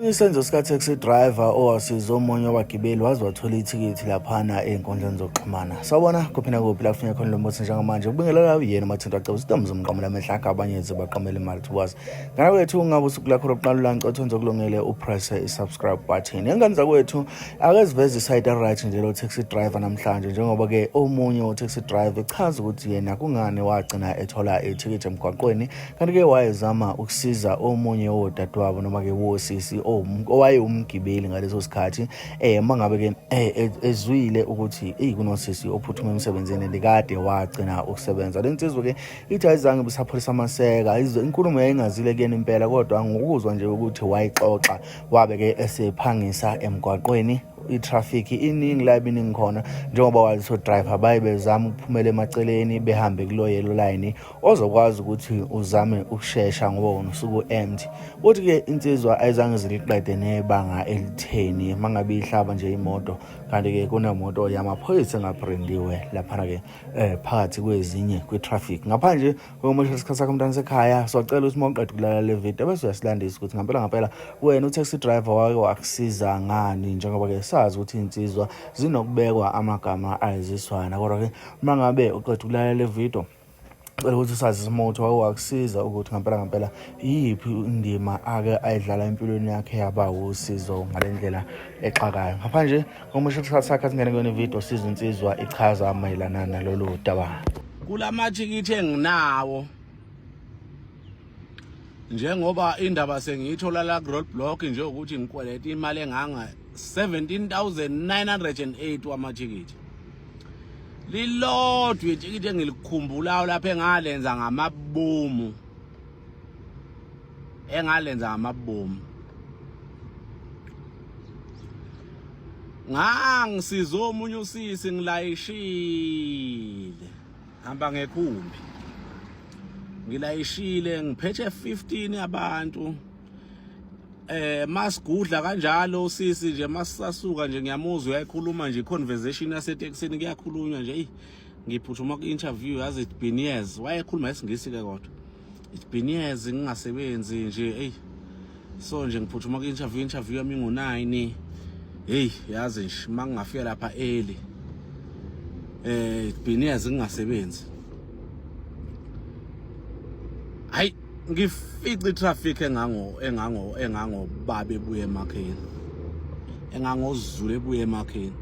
Isenzo sika-taxi driver owasiza omunye wabagibeli waze wathola ithikithi laphana ey'nkundleni zokuxhumana sawubona kuphi nakuphi la kufuneka khona lo mbuthi njengamanje ubingelela uyena umathinto aceba usitomu zomqamela amehla akho abanye ze baqamele imali towards ngana kwethu ungabe usuku lakho lokuqala ulanca othonze okulungele upresse i-subscribe button engane zakwethu akeziveze isayidi aright nje lo taxi driver namhlanje njengoba-ke omunye utaxi driver echaza ukuthi yena kungani wagcina ethola ithikithi emgwaqweni kanti ke wayezama ukusiza omunye wodadewabo noma ke wosisi owayewumgibeli ngaleso sikhathi eh uma ngabe ke eh, e, ezwile ukuthi eyi kunosisi ophuthuma emsebenzini ndikade wagcina ukusebenza le nsizwa ke ithi ayizange bisapholisa amaseka inkulumo yayingazile kuyena impela kodwa ngokuzwa nje ukuthi wayixoxa wabe ke esephangisa emgwaqweni i-traffic iningi la ibiningi khona njengoba wazi so driver baye bezama ukuphumela emaceleni behambe kulo yellow line ozokwazi ukuthi uzame ukushesha ngoba wona usuku empty uthi ke insizwa ayizange ziliqede nebanga elitheni mangabe ihlaba nje imoto kanti ke kunemoto yamaphoyisa engabrindiwe laphana ke eh phakathi kwezinye kwi traffic ngaphandle kokumoshela isikhathi sakho mntana sekhaya socela ukuthi mawuqeda ukulala le video bese uyasilandisa ukuthi ngempela ngempela wena utaxi driver wake wakusiza ngani njengoba ke sazi ukuthi insizwa zinokubekwa amagama ayiziswana kodwa ke mangabe uqeda ukulala le video cela ukuthi usazi isimothi wakusiza ukuthi ngempela ngempela iyiphi indima ake ayidlala empilweni yakhe yaba wusizo ngale ndlela exakayo ngapha nje komusho isikhathi sakhe asingene kuyona ividiyo siza insizwa ichaza mayelana nalolu daba kula mathikithi enginawo njengoba indaba sengiyithola la ku roadblock nje ukuthi ngikweleta imali enganga 17908 wamathikithi lilodwa ithikithi engilikhumbulayo lapha engalenza ngamabomu engalenza ngamabomu ngangisiza omunye usisi ngilayishile hamba ngekhumbi ngilayishile ngiphethe 15 abantu eh masigudla kanjalo sisi nje masisasuka nje ngiyamuzwa uyayikhuluma nje conversation yaseteksini kuyakhulunywa nje ngiphuthuma ku-interview yazi it's been years wayekhuluma isingisi-ke kodwa It's been years ngingasebenzi nje hey so nje ngiphuthuma ku interview interview yami ngo 9 hey yazi nje mangingafika lapha early eh it's been years ngingasebenzi hayi ngifice traffic engango engango engango babe buye emakheni engangozulu ebuye emakheni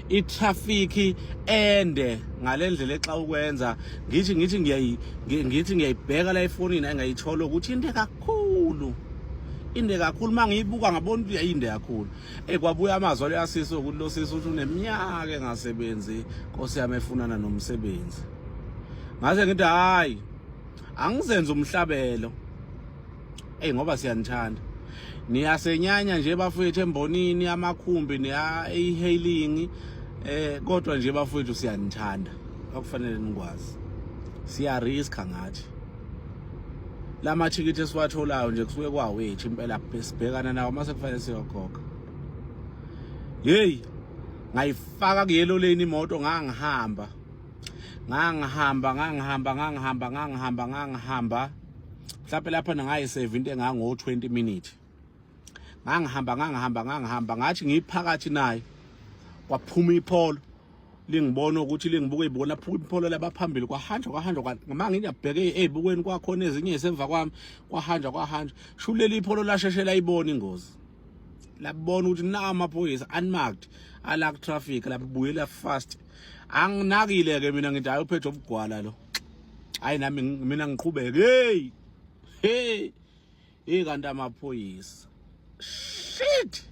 itraffic ende ngalendlela exa ukwenza ngithi ngithi ngiyayi ngithi ngiyayibheka la efonini engayithola ukuthi into kakhulu inde kakhulu mangiyibuka ngabona ukuthi yayinde kakhulu eh kwabuya amazwi aleyasisi ukuthi lo sisi uthi uneminyaka engasebenzi Nkosi yami efunana nomsebenzi ngaze ngithi hayi angizenze umhlabelo eyi ngoba siyanithanda niyasenyanya nje bafowethu embonini amakhumbi neya-e-hailing eh kodwa nje bafowethu siyanithanda okufanele nikwazi siyariska ngathi la mathikithi esiwatholayo nje kusuke kwawethu impela sibhekana nawo uma sekufanele siyokhokha yeyi ngayifaka kuyelo leni imoto ngangihamba ngangihamba ngangihamba ngangihamba ngangihamba ngangihamba mhlawumbe lapha ngingayisave into engango 20 minutes ngangihamba ngangihamba ngangihamba ngathi ngiphakathi naye kwaphuma ipholo lingibona ukuthi lingibuke ibuko lapho ipholo labaphambili kwahanjwa kwahanjwa ngama ngiyabheke ezibukweni kwakhona ezinye esemva kwami kwahanjwa kwahanjwa shulele ipholo lasheshela ibona ingozi labona ukuthi na amaphoyisa unmarked ala traffic labuyela fast anginakile ke mina ngithi ayophetha ubugwala lo hayi nami mina ngiqhubeke hey hey hey kanti amaphoyisa shit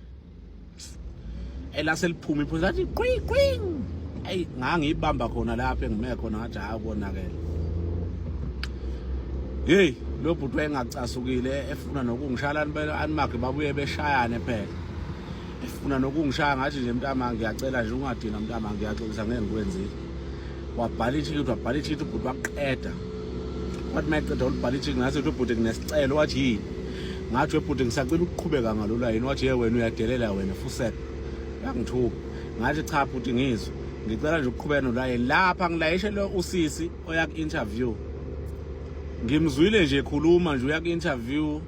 elaseliphuma iphoyisa athi qwi qwi ayi ngangiyibamba khona lapha engime khona ngathi hayi konakele hey lo bhuti wayengacasukile efuna nokungishala animakhe babuye beshayane phela efuna nokungishaya ngathi nje mntama ngiyacela nje ungadina mntama ngiyaxolisa ngeke ngikwenzile wabhala ithikithi wabhala ithikithi ubhuti wakuqeda wathi uma eqeda ulibhala ithikithi ngathi uthi ubhuti nginesicelo wathi yini ngathi webhuti ngisacela ukuqhubeka ngalula yini wathi ye wena uyadelela wena fusela yangithuka ngathi cha bhuti ngizwe ngicela nje ukuqhubeka nolaye lapha ngilayishele usisi oya ku-interview ngimzwile nje ekhuluma nje uya ku-interview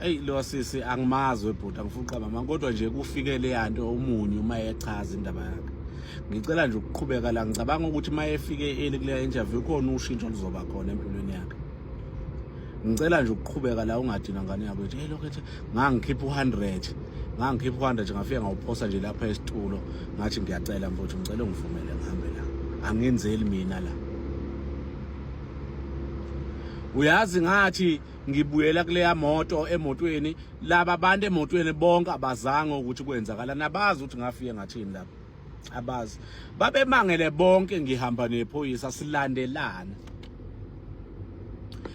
eyi lo sisi angimazi webhuti angifuni uqamba mama kodwa nje kufike leya nto omunye uma echaza indaba yakhe ngicela nje ukuqhubeka la ngicabanga ukuthi uma efike eli kuleya interview khona ushintsho luzoba khona empilweni yakhe ngicela nje ukuqhubeka la ungadina ngane yakho ethi hey lokho ethi ngangikhipha u100 ngangikhipha u100 ngafika ngawuphosa nje lapha esitulo ngathi ngiyacela mfowethu ngicela ungivumele ngihambe la angenzeli mina la uyazi ngathi ngibuyela kuleya moto emotweni laba bantu emotweni bonke abazange ukuthi kwenzakala nabazi ukuthi ngafike ngathini lapho abazi babemangele bonke ngihamba nephoyisa silandelana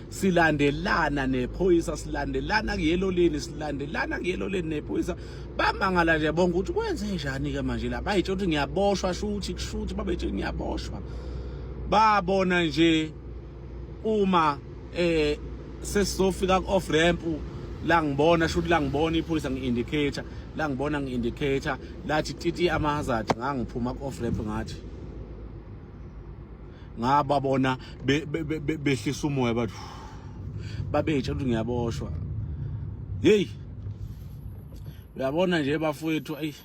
silandelana nephoyisa silandelana kuyeloleni silandelana kuyeloleni nephoyisa bamangala nje bonke ukuthi kwenze njani ke manje la bayitsho ukuthi ngiyaboshwa shuthi kushuthi babetshe ngiyaboshwa babona nje uma eh sesizofika ku off ramp la ngibona shuthi la ngibona iphoyisa ngi-indicator la ngibona ngi-indicator lathi titi ama-hazard ngangiphuma ku-off ramp ngathi ngababona behlisa umoya bathi babetsha ukuthi ngiyaboshwa yeyi uyabona nje bafowethu ayi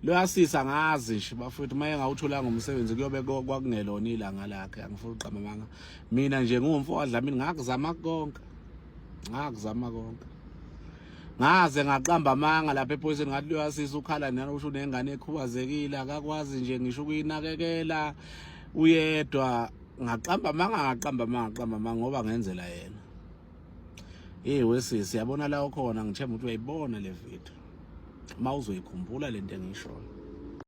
Loyasisa ngazi nje bafowethu maye ngawutholanga umsebenzi kuyobe kwakungelona ilanga lakhe angifuni uqamba manga mina nje ngumfo wadlamini ngakuzama konke ngakuzama konke ngaze ngaqamba amanga lapha ephoyiseni ngathi loyasisa ukhala nani usho unengane ekhubazekile akakwazi nje ngisho ukuyinakekela uyedwa ngaqamba amanga ngaqamba amanga ngaqamba amanga ngoba ngenzela yena Hey wesisi yabona la ukhona ngithemba ukuthi uyayibona le video. Uma uzoyikhumbula lento engishoyo.